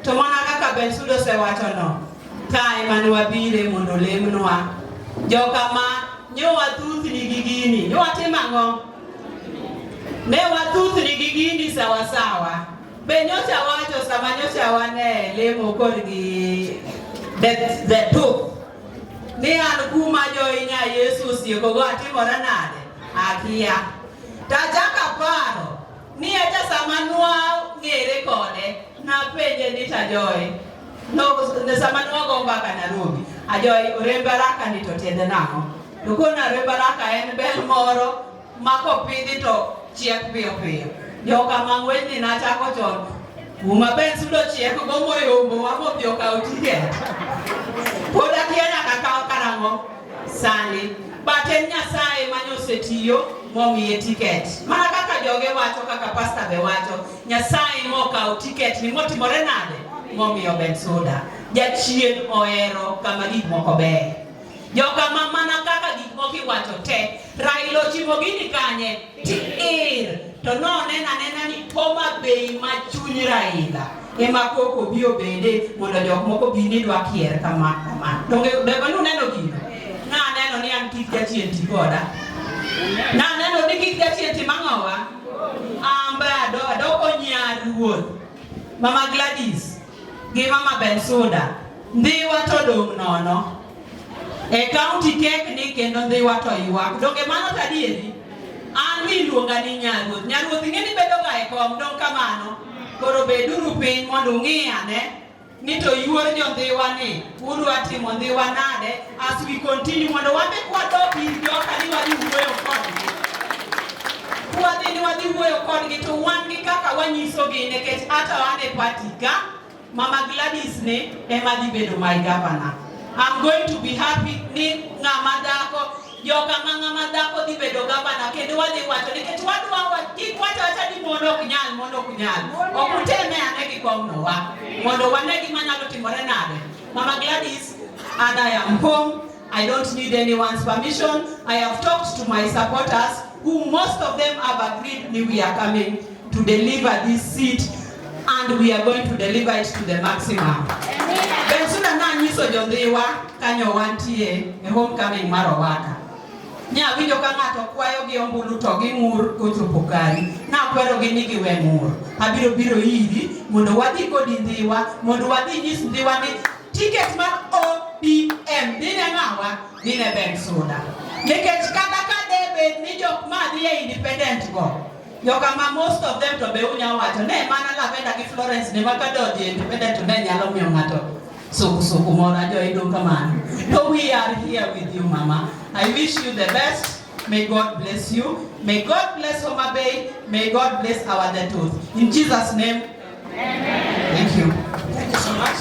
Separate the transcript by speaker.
Speaker 1: To mana kaka Bensuda osewachono, ka ema ne wabire mondo olemnwa. Joka ma nyo wathuthni gi gini, nyo watim ang'o? Ne wathuthni gi gini sawasawa. Be nyocha wacho sama nyocha wane lemo kod gi the two ni an kuma joinya Yesu osiekogo atimore nade? Akia. Tajaka paro Ni hata sama nwang'ere kode, napenje ni tajoe. No, sama nwago mbaka Nairobi, ajoe orembe araka ni to tiende nang'o? To kone orembe araka en bel moro ma kopidhi to chiek piyo piyo. Joka mang'wenyni nachako chon kuma ben sudo chiek go moyombo wa modhi okaw tiket. Pod akia nyaka kaw karang'o? sani but en Nyasaye ma osetiyo momiye tiket mana kaka joge wacho kaka pasta be wacho Nyasaye mokawo tiket ni motimore nade momiyo Bensouda jachien ohero kama gik moko beyo jokama mana kaka gik moko iwacho te Raila ochimo gini kanye Tiir to noneno anena ni Homa Bay ma chuny Raila ema koko bi obede mondo jok moko bi ni dwa kier kama kama. Donge donge nuneno gino? Naneno ni an kik jachien ti koda. Naneno ni kik jachien ti mang'owa. Amba ado ado onya ruoth. Mama Gladys gi mama Bensuda, Ndhiwa to dong' nono. E kaunti kekni kendo Ndhiwa to ywak. Donge mano to adieri? An mi iluonga ni Nyaruoth. Nyaruoth ing'e ni bedoga e kom, dong' kamano. Koro beduru piny mondo ung'i ane ni to yuor jo Ndhiwa ni Uru atimo ni wanade as we continue mondo wabe kwadok ir joka ni wadhi wuoyo kodgi. Kwadhi ni wadhi wuoyo kodgi to wan gi kaka wanyisogi nikech hata wan e party ka Mama Gladys ne ema dhi bedo my governor. I'm going to be happy ni ng'ama dhako joka ma ng'ama dhako dhi bedo gavana kendo wadhi wacho nikech wadwa kik wacho wacha ni mon ok nyal mon ok nyal ok uteme ane gi kong'nowa mondo wane gima nyalo timore nade mama Gladys and I am home I don't need anyone's permission I have talked to my supporters who most of them have agreed we are coming to deliver this seat and we are going to deliver it to the maximum. Bensuna na nyiso jodhiwa kanyo wantie e homecoming mar Owaka. Nya winjo ka ng'ato kwayo gi ombulu to gi ng'ur kochopo kari. Na kwero gi ni giwe ng'ur. Abiro biro iri mondo wadhi kodi ndhiwa mondo wadhi nyis ndhiwa ni ticket mar ODM dine ng'awa dine Bensuna. Nikech kata ka debed ni jok ma dhi e independent go Joka ma most of them to be unya wacho ne mana lavenda gi Florence ne makadodhi e independent ne nyalo miyo ng'ato sukusuku moro ajoido kamano. So we are here with you mama. I wish you the best. May God bless you. May God bless Homa Bay. May God bless our Detoth. In Jesus name. Amen. Thank you. Thank you so much.